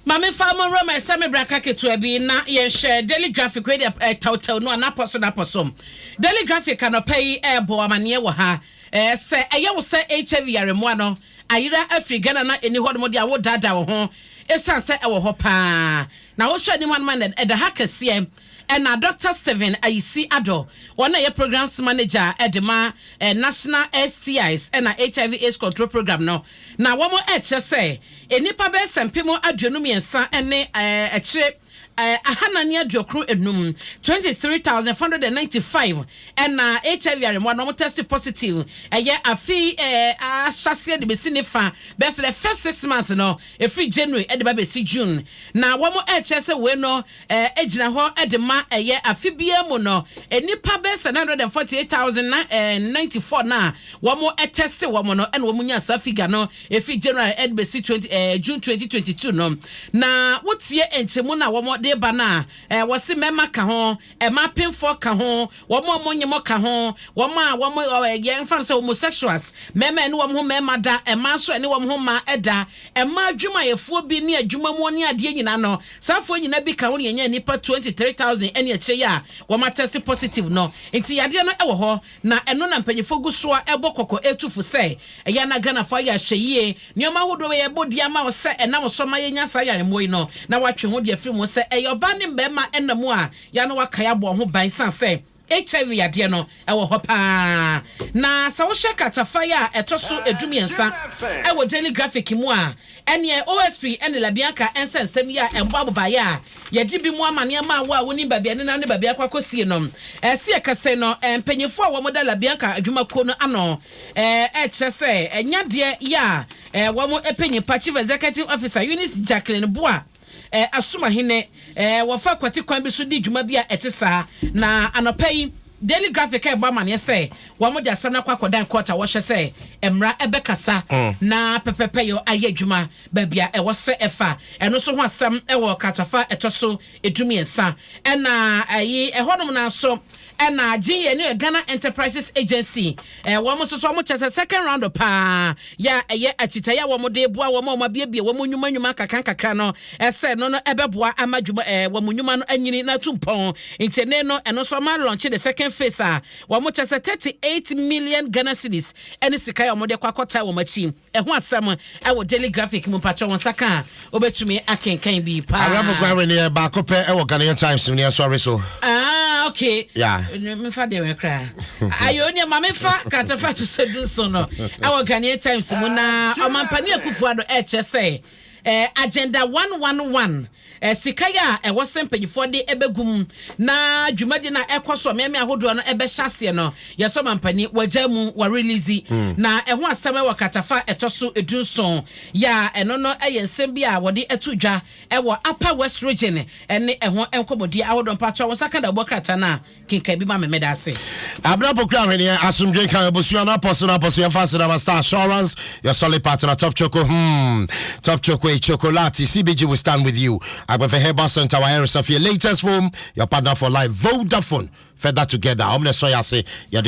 Ma memfa mo nwura mu ɛsɛ me braka ketewa bi na yɛnhwɛ Daily Graphic wei deɛ eh, tawtaw no a n'apɔ so n'apɔ so. Daily Graphic anɔpa yi ɛrebɔ eh, amaneɛ wɔ ha. Eh, sɛ ɛyɛ wo sɛ HIV yaremmoa no ayera afiri Ghana na ɛni hɔ nom de a wodaadaa wo ho ɛsiane sɛ ɛwɔ hɔ paa. Na wohwɛ anim anom a ɛda ha kɛseɛ. Ɛna Dɔkta Stephen Ayisi-Addo, wɔn a ɛyɛ Programmes Manager de ma National STIs na HIV AIDS Control Programme no, na wɔn ɛkyerɛ sɛ nnipa bɛyɛ sɛ mpem aduonu mmiɛnsa ne ɛkyere ahanan ne aduokron enum, 23,495, ɛna HIV yare mmoa no wɔn tɛste positive ɛyɛ afe yi ahyɛaseɛ de bɛsi ne fa, bɛyɛ sɛ the first six months no, ɛfiri January de ba bɛsi June, na wɔn ɛkyerɛ sɛ wei no. Ɛɛ gyina hɔ de ma ɛyɛ afe biara mu no nnipa bɛyɛ sɛ nine hundred and forty eight thousand and ninety four no a wɔn tɛste wɔn no ɛna wɔn nya saa figure no efiri January ɛde bɛsi twenty ɛɛ eh, June twenty twenty two no na wotie nkyɛnmu no a wɔn de ba no a ɛɛ wɔsi mmarima ka ho ɛma apemfoɔ ka ho wɔn a wɔn nyɛmɔ ka ho wɔn a wɔn ɛɛ yɛn fa no sɛ homosexuals mmarima ɛne wɔn ho mmarima da ɛmaa nso ɛne wɔn ho mmaa ɛda Ɛmaa adwumayɛfoɔ bi ne adwuma mu ɔne adeɛ nyinaa no, saa foɔ nyinaa bi ka ho na yɛnyaa nnipa 23,000 ɛne akyire yi a wɔn atɛste positive no. Nti yadeɛ no ɛwɔ hɔ na ɛno na mpanyinfoɔ gu so a ɛbɔ kɔkɔ ɛtu fo sɛ ɛyɛ a na Ghanafoɔ ayɛ ahwɛyie. Nneɛma ahodoɔ wei ɛbɔ din ama wo sɛ ɛnam so ma yɛnya saa yaremmoɔ yi no na watwe ho deɛ afiri mu sɛ ɛyɛ ɔbaa ne mmarima ɛna mu a yɛ a na wakae abɔ ho ban ɛsiane sɛ HIV yadeɛ no wɔ hɔ pa ara, na sɛ wohwɛ kratafae a ɛtɔ so dummiɛnsa wɔ Daily Graphic mu a, ɛnneɛ OSP ne LaBianca nsa nsɛm yi a ɛbɔ abobaeɛ a yɛde bi mu amaneɛ ma wo a wonim baabi a ɛnenam ne baabi a akɔ akɔsie no. Ɛse yɛkɛse no, mpanyimfoɔ a wɔda LaBianca adwumakuo no ano kyerɛ sɛ ɛnyɛ adeɛ yɛ a wɔpɛ nyimpa. Chief Executive Officer Eunice Jacqueline Boah, Eh, asom ahene. Eh, wɔfa kwati kwan bi so di dwuma bi a ɛte saa. Na anɔpa yi, Daily Graphic rebɔ amaneɛ sɛ wɔde asɛm no akɔ akɔdan court a wɔhyɛ sɛ mmara ɛbɛkasa na pɛpɛpɛyɔ ayɛ adwuma baabi a ɛwɔ sɛ ɛfa. Ɛno nso ho asɛm wɔ kratafa ɛtɔ so du mmiɛnsa. Ɛna ɛyi ɛhɔnom no ara nso Ɛna agye yɛ ne Ghana Enterprises Agency eh, wɔn nso so wɔn kyɛ sɛ second round paa yɛ a ɛyɛ akyitaeɛ a wɔn de boa wɔn a wɔn abiebie wɔn nnwuma nnwuma nkakra nkakra no ɛsɛ no no ɛbɛboa ama dwuma eh, wɔn nnwuma no anyini na atu mpɔn nti ne no ɛno nso wɔn alɔnkye de second phase a wɔn kyɛ sɛ thirty eight million Ghana cedis ɛne sika a wɔn de kɔ akɔtaa wɔn akyi Ɛho asɛm wɔ Daily Graphic mu mpakyɛw wo nsa ka a wobɛtumi akenkan bi Awerɛ mo paa. guan weneɛ baako pɛ wɔ Ghanaian Times mu neɛ sɔre so. Ah ok Yeah. Menfa deɛ wɛ koraa Ayoo neɛ ma me fa kratafa hyehyɛ du nson no wɔ Ghanaian Times mu na Ɔmampanin Akufo-Addo ɛkyerɛ sɛ Agenda one one one, Sika a ɛwɔ sɛ mpanyinfoɔ de bɛgu mu na dwumadi no a ɛkɔ so mmeammea ahodoɔ no bɛhyɛ aseɛ no, yɛsɛ ɔmampanin wagyaa mu, wɔarilizi. Na ɛho asɛm wɔ kratafa a ɛtɔ so du nson yi a ɛno no yɛ nsɛm bi a wɔde ato dwa wɔ Upper West Region ne ɛho nkɔmmɔdie ahodoɔ. Mpakyɛw wo nsa ka dawubɔ krataa no a. Kenkan bi ma me meda ase. Abena Poku Ahweneɛ, Asomdwe nka abusua no apɔso no apɔso yɛmfa ase na Star Assurance, your solid partner Top Choco hmm Top Choco e Chocolate CBG we stand with you Agbefe Herbal Center wa ɛresafie Latest Foam your partner for life Vodafone further together ɔmo na ɛsɔ yɛ ase yɛde